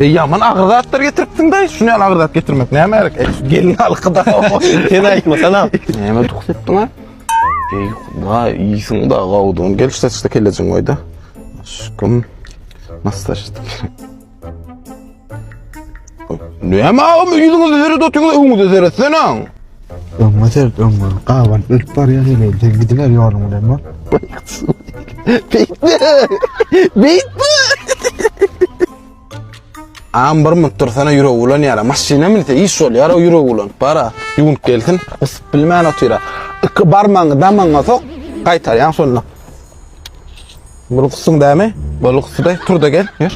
Eý ýaman agyr zatlar getiripsiň daýy, şuny ýaly agyr zat getirmek näme gerek? Eý şu gelin halkyda. Sen aýtmasana. Näme tuks etdiň ha? Eý huda iýsin da gawdun gel şu saçda kelejin goýda. Aşkym. Nasıl saçda kelek? Näme agam ýüzüňizi seret otyňyz öňüňize seretsene. Öňe sert öňe. Gawan ölüp barýar ýene sen gidiber ýoluň bilen bak. Beýtme. Beýtme. Am bir mut dursana ýüregi bulan ýara. Maşyna minse iş bol ýara ýüregi bulan. Bara ýuwunyp gelsin. Usup bilmän otyra. Iki barmagyňy damagyňa sok. Gaýtar ýaň şonda. Bul gusyn dämi? Bul gusy turda gel. Ýör.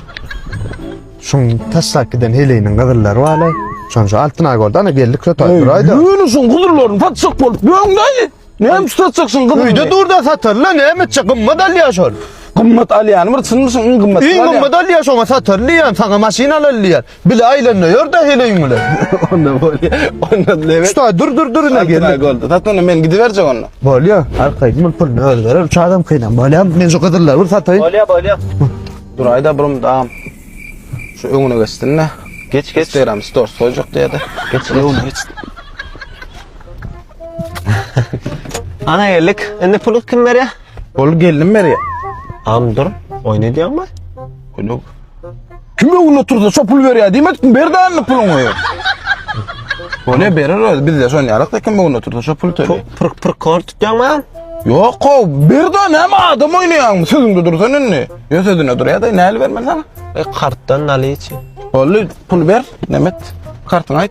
Şun taşlap giden heleýiniň gyzyllar wala. Şonja altyn agorda ana geldik şo taýyraýda. Ýürüşün guzurlaryny patşak bolup. Ýöňdäýli. Näme üçin satjaksyň gyzymy? Öýde dur-da satarla, näme etjek? Gymmat alýar şol. Gymmat alýany bir çynmyşyň iň gymmat. Iň gymmat alýar şoňa satar diýýän, saňa maşyn alal diýýär. Bile aýlanda ýör-de heleýiň bilen. Onda bolýa. Onda lebet. Şuta dur dur dur ine geldi. Boldy. Satmana men gidiberjek onda. Bolýa. Arkaýyn bol puluny öz berer. Üç adam kynam bolýam. Men şu gyzyllary bir sataýyn. Bolýa, bolýa. Duraýda birim dam. Şu öňüne geçsin-de. Geç, geç. Instagram stories goýjak diýýär-de. Geç, geç. Ana geldik. Indi pulu kim berýär? Ol geldim berýär. Am dur. Oýun edýäňmi? Gülüp. Kim öňünde otursa şo pul berýär diýmedikmi? Ber dändi puluňy. Ol berer öz bizde şon ýalak da kim öňünde otursa şo pul töle. Pırk pırk kor tutýaňmy? Yok o bir de ne adam oynayan sözünde dursan indi. Yo sözüne dur ya da ne el vermeli sana. E karttan nali için. Ollu pul ver Nemet. Kartını ait.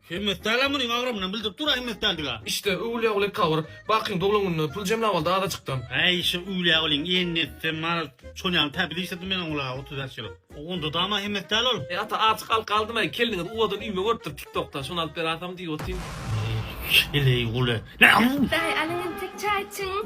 Hemmet däl-ä munyň agramyndan bildirip dur-a hemmet däldigi-ä. Işde öwülýä weli kabyr. Bakyň doglan gününe pul jemläp aldy azajykdan. Äý şo öwülýä weliň enini etsem maraz çonýaly täpede işledim men oň la otuz bäş ýyl. Onda dama hemmet däl ol. Eý ata azjyk alka aldym-aý kelniňiz uwadan üýme görüpdir tik tokda şony alyp beraýsam diýip otyryn. Eý heleý guly. Näme bu? Daýy alyň entek çaý içiň.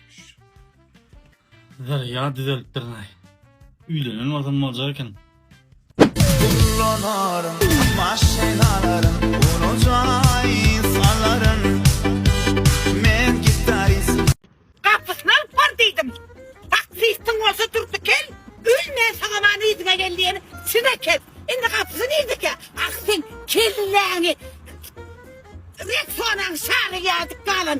Her ya düzelip durnaý. Üylenen bolsam bolacak eken. Kullanarım maşinalarım Unucay salarım Men gitarist Gapysyny alyp bar diýdim. Taksistiň bolsa durdy kel, öl men saňa many yzyňa gel diýen size kel. Indi gapysy nirdeke? Ah sen kelläňi Rexonaň şary ýadyp galan.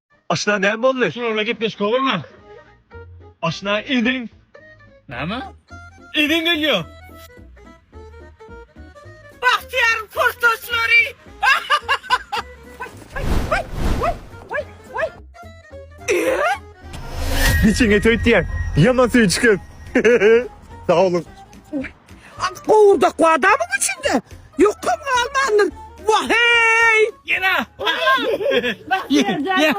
Aşna näme boldy? Şularla gepleşik bolma. Aşna idin. Näme? Idin gelýär. Bagtyýaryň portaçlary. Giçiňe töýt diýen. Ýaman söýçükem. Sag boluň. Gowurdak wadamyň içinde. Ýukum galmandyr. Waheý! Ýene. Ýa.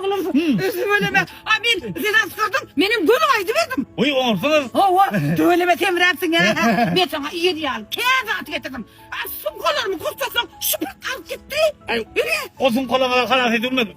Tüweleme. A men seni asgyrdyň. Menem göni aýdyberdim. Oý oňarsyňyz. Hawa. Tüweleme semräpsiň ä. Men saňa ýedi ýaly kä zat getirdim. A sumkalarymy gurçaksoň şypyrt alyp gitdi. Ýöre. O sumkalaňyzy halas edip bilmedim.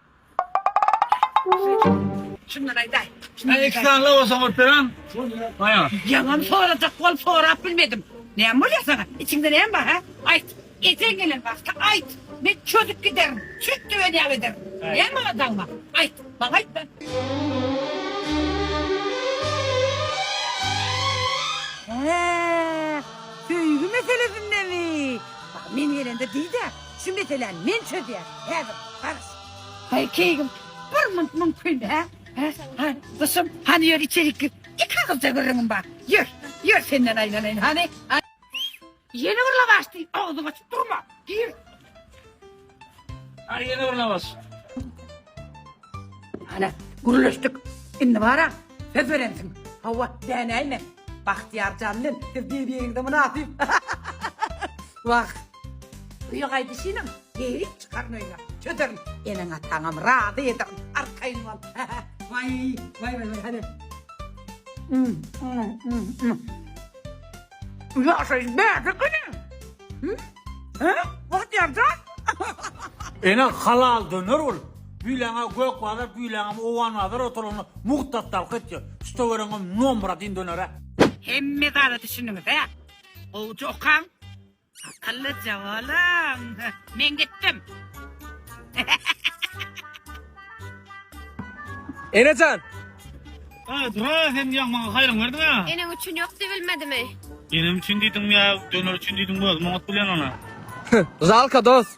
Şundan aýdaý. Sen iki sany lawasa goýup beren. Aýa. Ýaňam sorajak bolup sorap bilmedim. Näme bolýar saňa? Içiňde näme bar, hä? Aýt. Eseň gelen wagty aýt. Men çözüp giderin. Süýt döwen ýaly ederin. Näme bar dagyma? Aýt. Maňa aýtma. Hä. Söýgi meselesindemi? Bar, men gelende diý-de. Şu meseläni men çözýän. Häzir baryş. Haý keýgim bir munt mümkin hä? Hä? Hany gysym, hany ýör içerik gir. Iki agylja gürrüňim bar. Ýör, ýör senden aýlanaýyn hany. Ýene bir lawaş diý, agzyňy açyp durma. Gir. Hany ýene bir lawaş. Hany gürleşdik. Indi bara söz berensiň. Hawa, dänäýme. Bagtyýar jan bilen siz bir-biriňize mynasyp. Wah, Öýe gaýdyşynam geýrip çykaryn öýüňe. Çözerin. Eneň-ataňam razy ederin. Arkaýyn bol. Waý, waý, waý, hany. Bu ýaşaýyş bärde ekeni. Hä? Bahtýarjan. Ene halal döner bul. Büyleňe gök bazar, büyleňem owan bazar oturanlar muhtat talk et diyor. Tuta vereňem nomra din dönere. Hemme zada düşündiňiz hä? Gowja okaň. Akyllyja olam. Men gitdim. Enejan. Aa, dura sen ýa maňa haýryň berdiň ha. Eneň üçin ýok diýilmedimi? Enem üçin diýdim ýa döner üçin diýdim bolmaz bilen ona. Žalka dos.